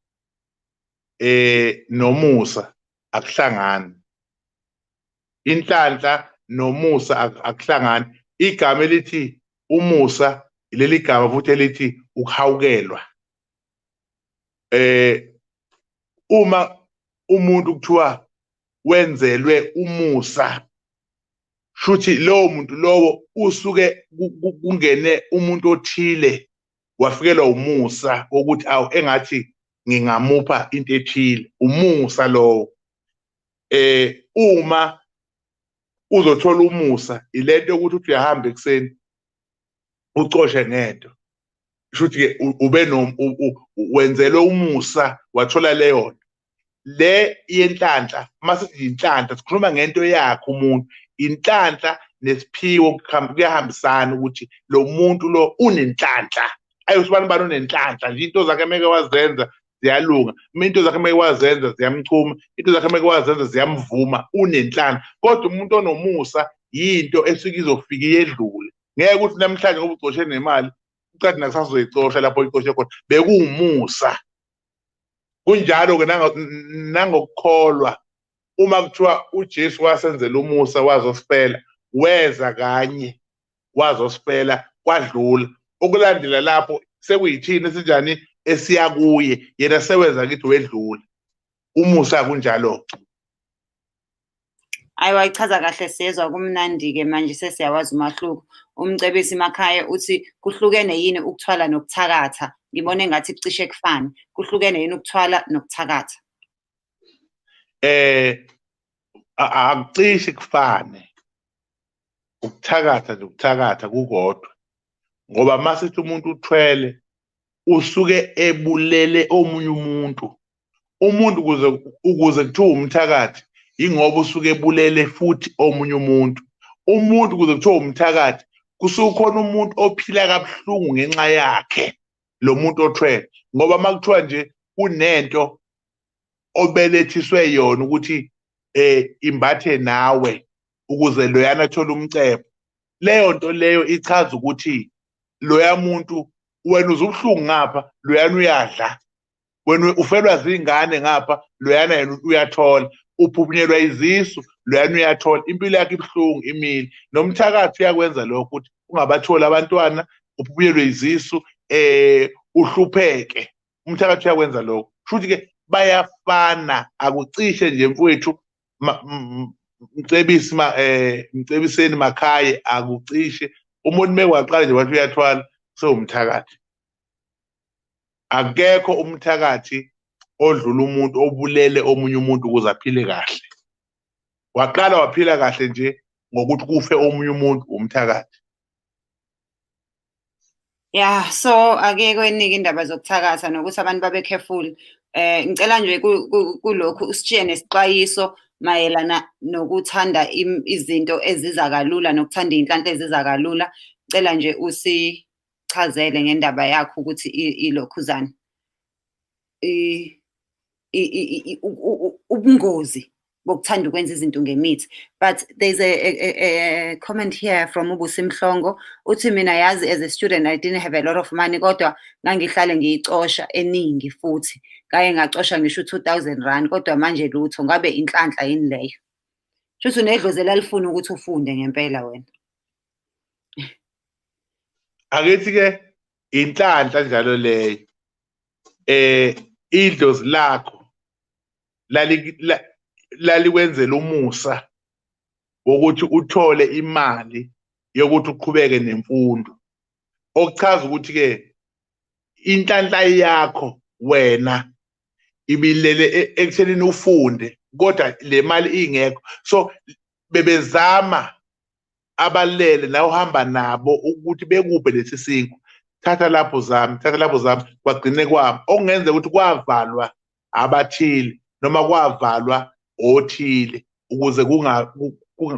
eh nomusa akuhlangani inhlanhla nomusa akuhlangani igama elithi umusa leli gama futhi elithi ukuhawukelwa eh uma umuntu kuthiwa wenzelwe umusa shuthi lowo muntu lowo usuke kungene umuntu othile wafikelwa umusa wokuthi awu engathi ngingamupha into ethile umusa lowo eh uma uzothola umusa ilento ukuthi uthi uyahamba ekuseni ucoshe ngento shuthi ke ube no wenzelwe umusa wathola leyo nto le yenhlanhla uma sithi yinhlanhla sikhuluma ngento yakhe umuntu inhlanhla nesiphiwo kuyahambisana ukuthi lo muntu lo unenhlanhla ayosibani bani unenhlanhla nje into zakhe meke wazenza ziyalunga uma into zakhe meke wazenza ziyamchuma into zakhe meke wazenza ziyamvuma unenhlanhla kodwa umuntu onomusa yinto esuke izofika iyedlule ngeke ukuthi namhlanje ngoba ugcoshe nemali uqadi nakusasa uzoyicosha lapho oyicoshe khona bekuwumusa kunjalo-ke nangokukholwa uma kuthiwa uJesu wasenzela umusa wazosifela weza kanye wazosifela kwadlula okulandela lapho sekuyithini esinjani esiya kuye yena seweza kithi wedlula umusa kunjalo-ke Ayi wayichaza kahle sezwa kumnandi-ke manje sesiyawazi umahluko. Umcebisi Makhaya uthi kuhlukene yini ukuthwala nokuthakatha? Ngibona engathi kucishe kufane. Kuhlukene yini ukuthwala nokuthakatha? Eh a- akucishi kufane ukuthakatha nje ukuthakatha kukodwa ngoba uma sithi umuntu uthwele usuke ebulele omunye umuntu umuntu ukuze ukuze kuthiwa umthakathi yingoba usuke ebulele futhi omunye umuntu umuntu ukuze kuthiwa umthakathi kusuke khona umuntu ophila kabuhlungu ngenxa yakhe lo muntu othwele ngoba uma kuthiwa nje kunento obelethiswe yona ukuthi eh imbathe nawe ukuze loyana athole umcebo leyo nto leyo ichaza ukuthi loya muntu wena uzubuhlungu ngapha loyana uyadla wena ufelwa zingane ngapha loyana yena uyathola uphuphunyelwa izisu loyana uyathola impilo yakhe ibuhlungu imile nomthakathi uyakwenza lokho ukuthi ungabatholi abantwana uphuphunyelwe izisu eh uhlupheke umthakathi uyakwenza lokho futhi ke bayafana akucishe nje mfowethu mcebisi ma eh mcebiseni makhaye akucishe umuntu mekwaqala nje wathi uyathwala sewumthakathi akekho umthakathi odlula umuntu obulele omunye umuntu ukuze aphile kahle waqala waphila kahle nje ngokuthi kufe omunye umuntu umthakathi Yeah, so akekho eningi indaba zokuthakatha nokuthi abantu babe careful. Eh ngicela nje kulokhu usitshiye nesixwayiso mayelana nokuthanda izinto eziza kalula nokuthanda izinhlanhla eziza kalula. Ngicela nje usichazele ngendaba yakho ukuthi ilokhuzana. eh, ubungozi bokuthanda ukwenza izinto ngemithi but there's a, a, a comment here from ubusi mhlongo uthi mina yazi as a student i didn't have a lot of money kodwa ngangihlale ngiyicosha eningi futhi kaye ngacosha ngisho u-two thousand rand kodwa manje lutho ngabe inhlanhla yini leyo shuthi unedlozi elalifuna ukuthi ufunde ngempela wena akethi-ke inhlanhla njalo leyo eh idlozi lakho lalikwenzela umusa wokuthi uthole imali yokuthi uqhubeke nemfundo okuchaza ukuthi ke inhlanhla yakho wena ibilele e-, ekuthenini ufunde kodwa le mali ingekho so bebezama abalele nawe uhamba nabo ukuthi bekuphe lesi sinkwa thatha lapho zami thatha lapho zami kwagcine kwami okungenzeka ukuthi kwavalwa abathile noma kwavalwa othile ukuze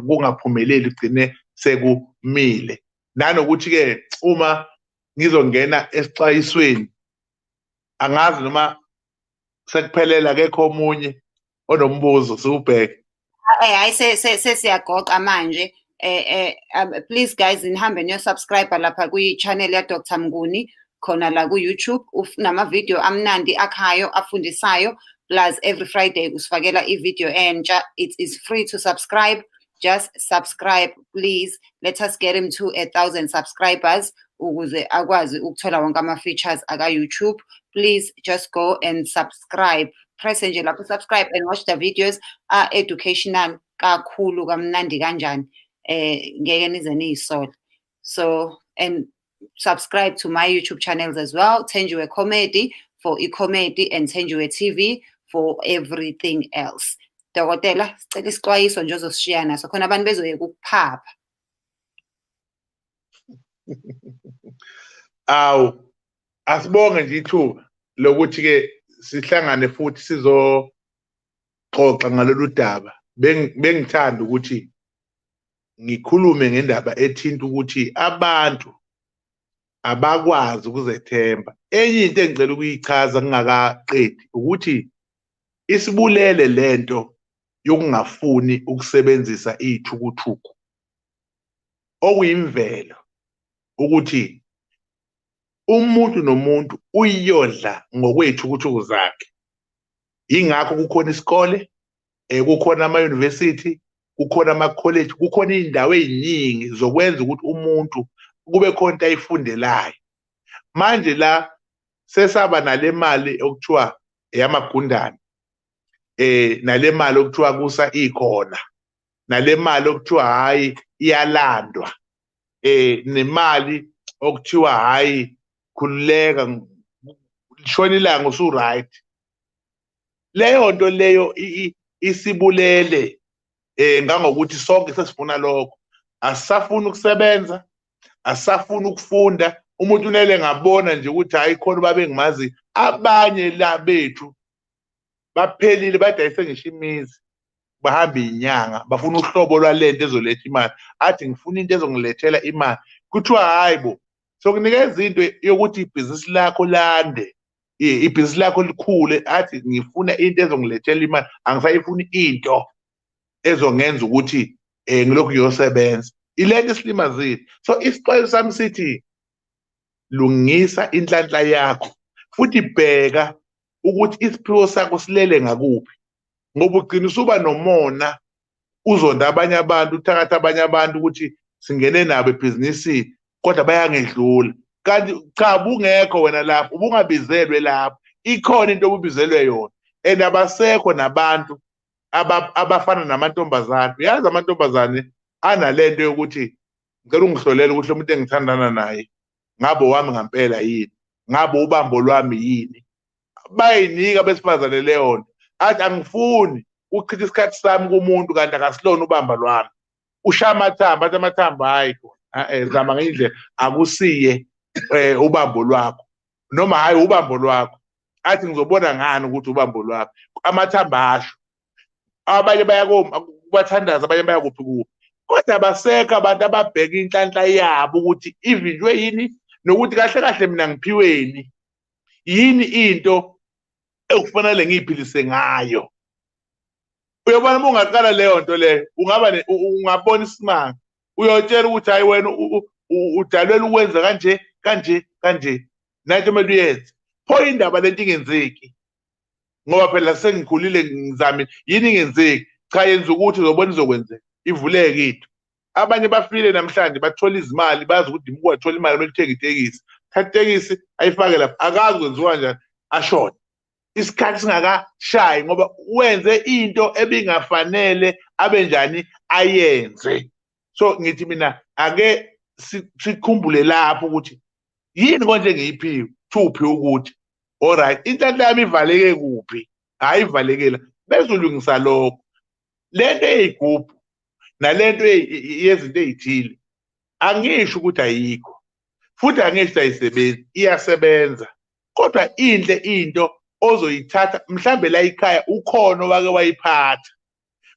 kungaphumeleli kugcine sekumile nanokuthi-ke uma ngizongena esixwayisweni angazi noma sekuphelela kekho omunye onombuzo siwubheke eh hayi sesiyagoqa manje eh eh um, please guys nihambe niyo subscribe lapha kwi channel ya Dr Mnguni khona la ku YouTube unama video amnandi akhayo afundisayo plus every Friday usifakela i video entsha it is free to subscribe just subscribe please let us get him to a thousand subscribers ukuze akwazi ukuthola wonke ama-features aka-youtube please just go and subscribe press nje lapho subscribe and watch the videos are educational kakhulu kamnandi kanjani eh ngeke nize niyisole so and subscribe to my YouTube channels as well, Thenjiwe Comedy for e-comedy and Thenjiwe TV for everything else. Dokotela, sicela isixwayiso nje ozosishiya naso khona abantu bezoyeka ukuphapha. Awu asibonge nje ithuba lokuthi ke sihlangane futhi sizoxoxa ngalolu daba bengithanda ukuthi ngikhulume ngendaba ethinta ukuthi abantu abakwazi ukuzethemba enye into engicela ukuyichaza ngingakaqedi ukuthi isibulele lento yokungafuni ukusebenzisa iyithukuthuku okuyimvelo ukuthi umuntu nomuntu uyiyodla ngokweyithukuthuku zakhe yingakho kukhona isikole eh kukhona ama university kukhona ama college kukhona indawo eziningi zokwenza ukuthi umuntu kube khona into ayifundelayo manje la sesaba nale mali okuthiwa eyamagundane eh nale mali okuthiwa kusa ikhona nale mali okuthiwa hayi iyalandwa eh nemali okuthiwa hayi khululeka lishona ilanga usu right leyo nto leyo isibulele eh ngangokuthi sonke sesifuna lokho asisafuna ukusebenza asisafuna ukufunda umuntu unele ngabona nje ukuthi hayi khona uba bengimazi abanye la bethu baphelile badayise ngisho imizi bahambe inyanga bafuna uhlobo lwalento ezoletha imali athi ngifuna into ezongilethela imali kuthiwa hayi bo sokunikeza into yokuthi ibhizinisi lakho lande ibhizinisi lakho likhule athi ngifuna into ezongilethela imali angisayifuni into ezongenza ukuthi um ngilokhu ngiyosebenza ilento isilimazile so isixwayo sami sithi lungisa inhlanhla yakho futhi bheka ukuthi isiphiwo sakho silele ngakuphi ngoba ugcina usuba nomona uzonda abanye abantu uthakatha abanye abantu ukuthi singene nabo ebhizinisini kodwa bayangedlula kanti cha bungekho wena lapho ubungabizelwe lapho ikhona into obubizelwe yona and abasekho nabantu abafana namantombazane uyazi amantombazane anale nto yokuthi ngicela ungihlolele ukuthi lo muntu engithandana naye ngabe wami ngampela yini ngabe ubambo lwami yini bayinika besifazane leyo nto athi angifuni uchitha isikhathi sami kumuntu kanti akasilona ubamba lwami ushaya amathambo athi amathambo hhayi e-e zama ngenye indlela akusiye um ubambo lwakho noma hhayi ubambo lwakho athi ngizobona ngani ukuthi ubambo lwakho amathambo asho abanye bayakubathandaza abanye bayakuphi kuphi kodwa abasekho abantu ababheka inhlanhla yabo ukuthi ivinjwe yini nokuthi kahle kahle mina ngiphiweni yini into ekufanele ngiyiphilise ngayo uyobona uma ungaqala leyo nto leyo ungaba ungabona isimanga uyotshela ukuthi hayi wena udalwela ukwenza kanje kanje kanje nanto kumele uyenze pho indaba lento ingenzeki ngoba phela sengikhulile ngizamile yini ingenzeki cha yenza ukuthi uzobona izokwenzeka ivuleke into abanye bafile namhlanje bathola izimali bazi ukuthi dimuku wathola imali kumele uthenge itekisi thatha itekisi ayifake lapha akazi kwenziwa njani ashona isikhathi singakashayi ngoba wenze into ebingafanele abe njani ayenze so ngithi mina ake sikhumbule lapho ukuthi yini konje ngiyiphiwe thuphi ukuthi alright inhlanhla yami ivaleke kuphi hayi ivalekela bezolungisa lokho lento eyigubhu nalento yezinto ezithile angisho ukuthi ayikho futhi angisho ayisebenzi iyasebenza kodwa inhle into ozoyithatha mhlambe la ikhaya ukhona wake wayiphatha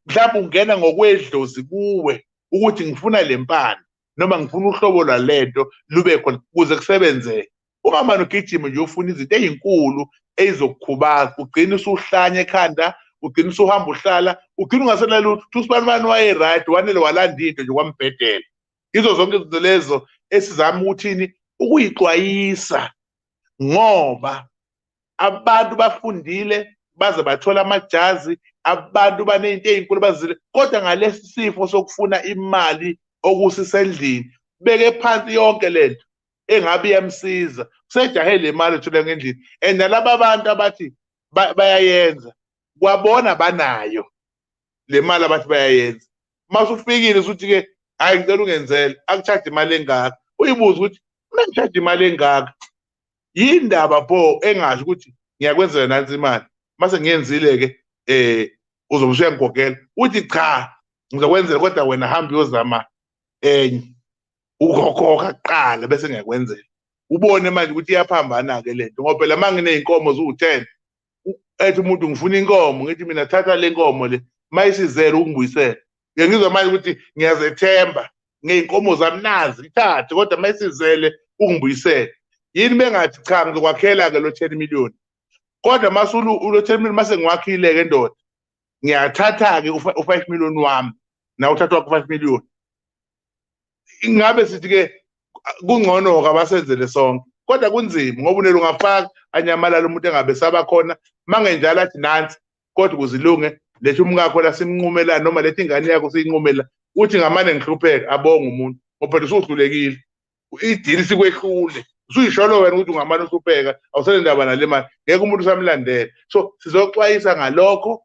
mhlawumbe ungena ngokwedlozi kuwe ukuthi ngifuna le mpande noma ngifuna uhlobo lwalento lube khona kuze kusebenzeke ungamane ugijime nje ufuna izinto ezinkulu ezizokukhubaza ugcine usuhlanya ekhanda ugcine usuhamba uhlala ugcine ungasena lutho uthi usibani bani wayeright wanele walanda into nje kwambhedela izo zonke izinto lezo esizama ukuthini ukuyixwayisa ngoba abantu bafundile baze bathola amajazi abantu banezinto ezinkulu bazile kodwa ngalesi sifo sokufuna imali okusisendlini beke phansi yonke lento engabe iyamsiza kusejahe le mali ethola ngendlini and nalaba bantu abathi bayayenza kwabona banayo le mali abathi bayayenza uma usufikile usuthi-ke hhayi ngicela ungenzele akuchaje imali engaka uyibuze ukuthi uma ngichaje imali engaka yindaba pho engasho ukuthi ngiyakwenzela nansi imali mase ngiyenzile-ke um uzobe usuyangigogela uthi cha ngizokwenzela kodwa wena hambe uyozama enye ukhokhoka kuqala bese ngiyakwenzela ubone manje ukuthi iyaphambana-ke le nto ngoba phela uma nginey'nkomo ziwu-ten ethi umuntu ngifuna inkomo ngithi mina thatha le nkomo le uma isizele ukungibuyisela ngiyangizwa manje ukuthi ngiyazethemba ngey'nkomo zami nazi ngithathe kodwa uma isizele ungibuyisele yini bengathi cha ngizokwakhela-ke lo ten million kodwa masulu ulo ten million mase ngiwakhile-ke ndoda ngiyathatha-ke u-five million wami nawe uthatha wakho u-five million ingabe sithi ke kungcono kabasenzele sonke kodwa kunzima ngoba unele ungafaka anyamalala umuntu engabe saba khona mangenjalo athi nansi kodwa kuzilunge lethi umkakho la simnqumela noma lethi ingane yakho siyinqumela uthi ngamane ngihlupheka abonga umuntu ngoba phela usuhlulekile idili sikwehlule usuyisholo wena ukuthi ungamane uhlupheka awusele ndaba nale mali ngeke umuntu usamlandela so sizoxwayisa ngalokho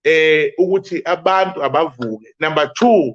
eh ukuthi abantu abavuke number 2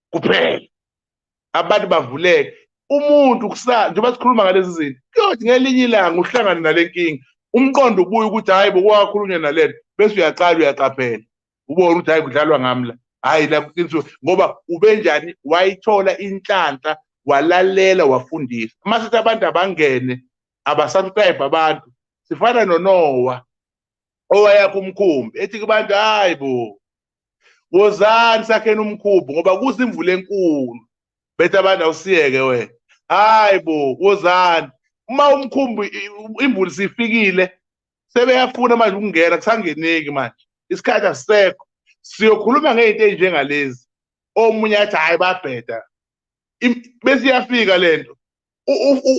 kuphela abantu bavuleke umuntu kusasa njengoba sikhuluma ngalezi zinto kuyothi ngelinye ilanga uhlangane nale nkinga umqondo ubuye ukuthi hhayi bokwakhulunywa nalento bese uyaqala uyaqaphela ubone ukuthi hhayi kudlalwa ngami la hhayi la kuqinisiwe ngoba ubenjani wayithola inhlanhla walalela wafundisa uma sithi abantu abangene abasubscribe abantu sifana nonowa owayakho umkhumbi ethi kubantu hhayi bo wozani sakheni umkhumbi ngoba kuza imvula enkulu bethe abantu awusiyeke wena hayi bo wozani uma umkhumbi imvula sifikile sebeyafuna manje ukungena kusangeneki manje isikhathi asisekho siyokhuluma ngey'nto ey'njengalezi omunye athi hhayi babheda bese iyafika le nto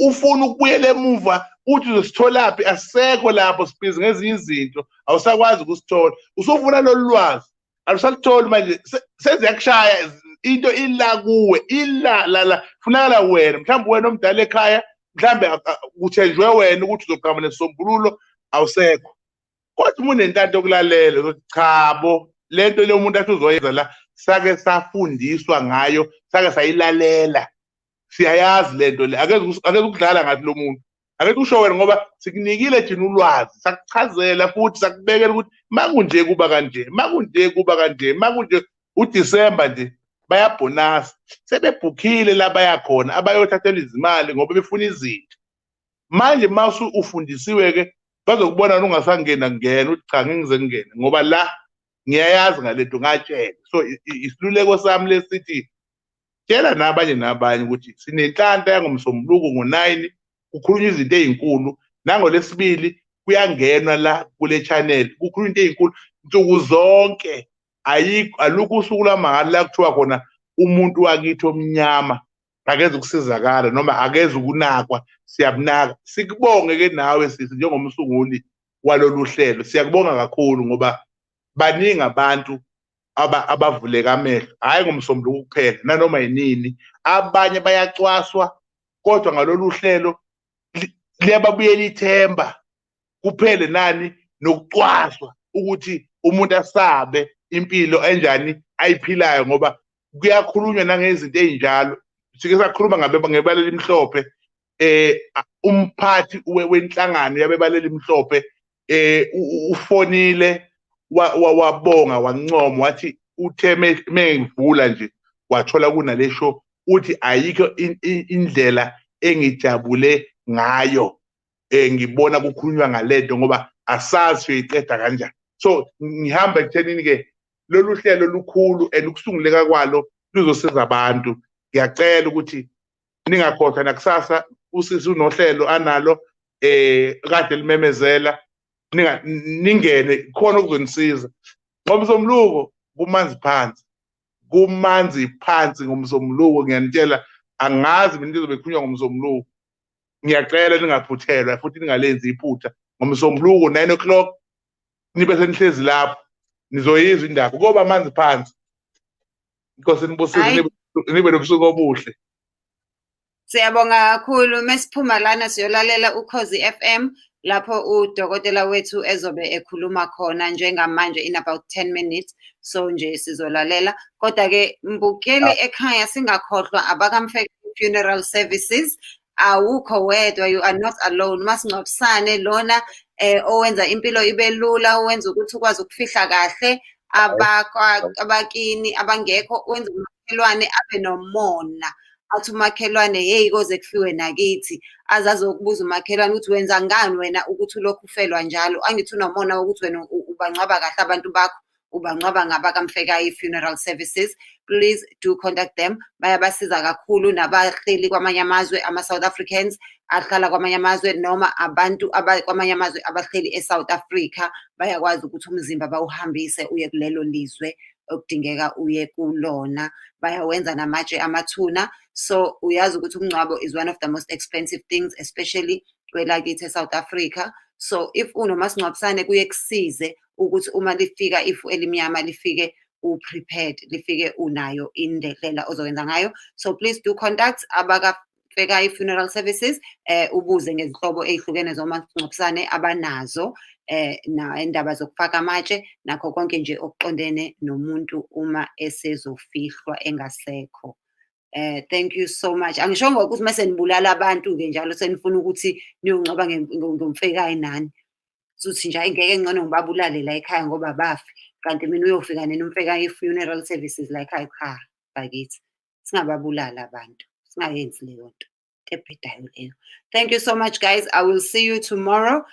ufuna ukubuyela emuva uthi uzositholaphi asekho lapho sibhizi ngezinye izinto awusakwazi ukusithola usufuna lolu lwazi alusalutholi manje seziyakushaya into ila kuwe ila lala funakala wena mhlawumbe wena omdala ekhaya mhlawumbe kuthenjwe wena ukuthi uzoqhama nesisombululo awusekho kodwa uma unentanto yokulalela uzothi cha bo le nto le umuntu athi uzoyenza la sake safundiswa ngayo sake sayilalela siyayazi lento le akeze ukudlala ngathi lo muntu akekho usho wena ngoba sikunikile thina ulwazi sakuchazela futhi sakubekela ukuthi makunje kuba kanje makunje kuba kanje makunje uDisemba nje bayabhonasa sebebhukhile la bayakhona abayothathela izimali ngoba befuna izinto manje uma ufundisiwe-ke bazokubona ungasangena kungena uthi cha ngingize kungene ngoba la ngiyayazi ngalento ngatshela so isiluleko sami lesithi tshela nabanye nabanye ukuthi sinenhlanta yangomsombuluko ngo-9 kukhulunywa izinto ezinkulu nangolesibili kuyangenwa la kule channel kukhulunywa into ezinkulu nsuku zonke ayikho alukho usuku lwamahhala la kuthiwa khona umuntu wakithi omnyama akeze ukusizakala noma akeze ukunakwa siyabunaka sikubonge ke nawe sisi njengomsunguli walolu hlelo siyakubonga kakhulu ngoba baningi abantu aba abavuleka amehlo hayi ngomsombuluko kuphela nanoma yinini abanye bayacwaswa kodwa ngalolu hlelo liyababuyela ithemba kuphele nani nokucwaswa ukuthi umuntu asabe impilo enjani ayiphilayo ngoba kuyakhulunywa nangezinto ezinjalo sike sakhuluma ngabe ngebala elimhlophe eh umphathi wenhlangano yabebaleli mhlophe eh ufonile wabonga wancoma wathi uthe mengivula nje wathola kunale show uthi ayikho indlela engijabule ngayo eh ngibona kukhulunywa ngalento ngoba asazi uyiqeda kanjani so ngihamba ekuthenini ke lolu hlelo lukhulu and ukusunguleka kwalo luzosiza abantu ngiyacela ukuthi ningakhohlwa nakusasa usisi unohlelo analo eh kade limemezela ninga ningene khona okuzonisiza ngomsombuluko kumanzi phansi kumanzi phansi ngomsombuluko ngiyanitshela angazi mina lizobe khulunywa ngomsombuluko ngiyacela ningaphuthelwa futhi ningalenzi iphutha ngomsombuluko 9 o'clock nibe senihlezi lapho nizoyizwa indaba koba amanzi phansi inkosi inibusise Hayi. nibe- nibe nobusuku obuhle Siyabonga kakhulu mesiphuma lana siyolalela ukhozi FM lapho udokotela wethu ezobe ekhuluma khona njengamanje in about 10 minutes so nje sizolalela kodwa ke mbukeli ekhaya singakhohlwa abakamfeke funeral services awukho wedwa you are not alone masingcwabisane lona eh owenza impilo ibe lula owenza ukuthi ukwazi ukufihla kahle abakini abangekho wenza umakhelwane abe nomona athi umakhelwane yeyi koze kufiwe nakithi azazi okubuza umakhelwane ukuthi wenza ngani wena ukuthi ulokhu ufelwa njalo angithi unomona wokuthi wena ubangcwaba kahle abantu bakho ubangcwaba ngabakamfekayi funeral services please do contact them bayabasiza kakhulu nabahleli kwamanye amazwe ama-south africans ahlala kwamanye amazwe noma abantu kwamanye amazwe abahleli e-south africa bayakwazi ukuthi umzimba bawuhambise uye kulelo lizwe okudingeka uye kulona bayawenza namatshe amathuna so uyazi ukuthi umngcwabo is one of the most expensive things especially kwelakithi e-south africa so if unomasingcwabisane kuye kusize ukuthi uma lifika ifu elimnyama lifike u-prepared lifike unayo indlela ozokwenza ngayo so please do contact abaka bheka i-funeral services eh ubuze ngezinhlobo ezihlukene zomasingcwabisane abanazo eh na indaba zokufaka amatshe nakho konke nje okuqondene nomuntu uma esezofihlwa engasekho Eh thank you so much. Angishongo ukuthi mase nibulala abantu ke njalo senifuna ukuthi niyongcoba ngomfekayi nani. Suthi nje ayingeke ngcono ngibabulale la ekhaya ngoba bafi. Kanti mina uyofika nini umfekayi funeral services la ekhaya cha bakithi. Singababulala abantu. Singayenzi leyo nto. Ebhedayo leyo. Thank you so much guys. I will see you tomorrow.